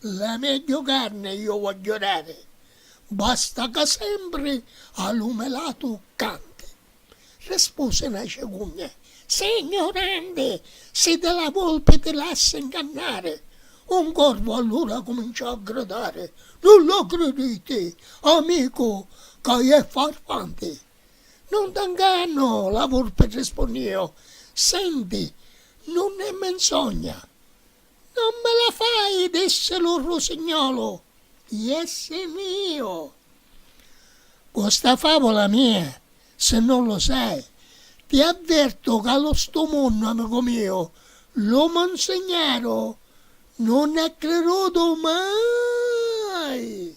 La megghiu carni iu vogghiu dari, basta ca sempri a lu melatu canti. Rispusi na cigugna, Si ignuranti, si di la vulpi ti lassi ngannari! Un corvu allura cuminciò a gridari, Nun lu criditi, amicu, ca iè farfanti! Nun ti ngannu, la vulpi rispunniu, Senti, nun è menzogna! Non me la fai, dissi lu rusignolu, iessi miu. Cu sta favula mia, si non lu sai, ti avvertu ca lu stu munnu, amicu miu, lu munsignaru nun è crirutu mai.